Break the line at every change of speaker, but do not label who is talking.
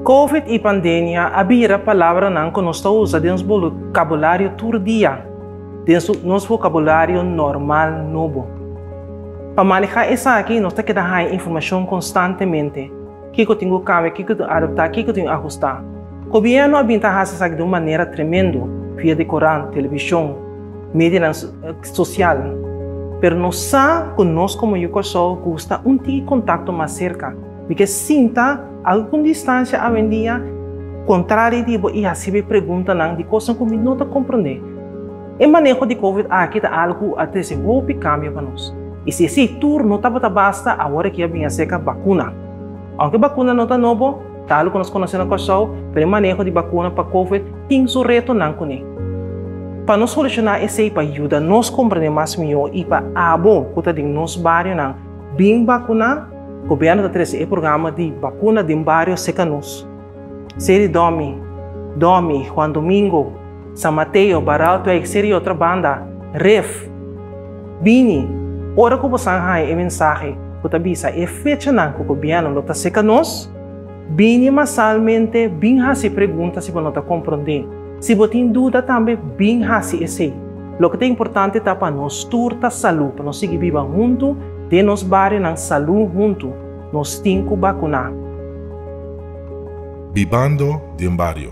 Covid i pandemia a bira palabranan ku nos ta usa den nos bokabulario tur dia, den nos bokabulario normal nobo. Pa manehá esaki nos ta keda haña informashon konstantemente. Kiko tin ku kambia, kiko tin adaptá, kiko tin ahustá? Gobièrnu a bin ta hasi esaki di un manera tremendu via di korant, televishon, medianan sosial. Pero nos sa ku nos komo yu Kòrsou gusta un tiki kontakto mas serka. Mi ke sinta algu ku distansia awendia, kontrá di di bo i hasiba e preguntanan di kosnan ku mi no ta komprondé. E maneho di Covid aki ta algu ku a trese hopi kambio pa nos. I si esei tur no tabata basta awor aki a bin aserka bakuna. Ounke bakuna no ta nobo, ta algu ku nos konosé na Kòrsou, pero e maneho di bakuna pa Covid tin su retonan kuné. Pa no solushoná esei, pa yuda nos komprendé mas mihó i pa abo ku ta den nos barionan bin bakuná, gobièrnu ta trese e programa di bakuna den bario serka nos. Se di dòmi, dòmi, Juan Domingo, San Mateo, Baral Tuex, se di otro banda, Ref. Bini, ora ku bosan haña e mensahe ku ta bisa e fechanan ku gobièrnu lo ta seka nos, bini masalmente bin hasi pregunta si bo no ta komprondé. Si bo tin duda tambe bin hasi esei. Loke ta importante ta pa nos tur ta salú, pa nos sigui biba huntu den nos barionan salú huntu. Nos tin cu
bacuna.
Bibando
den
bario.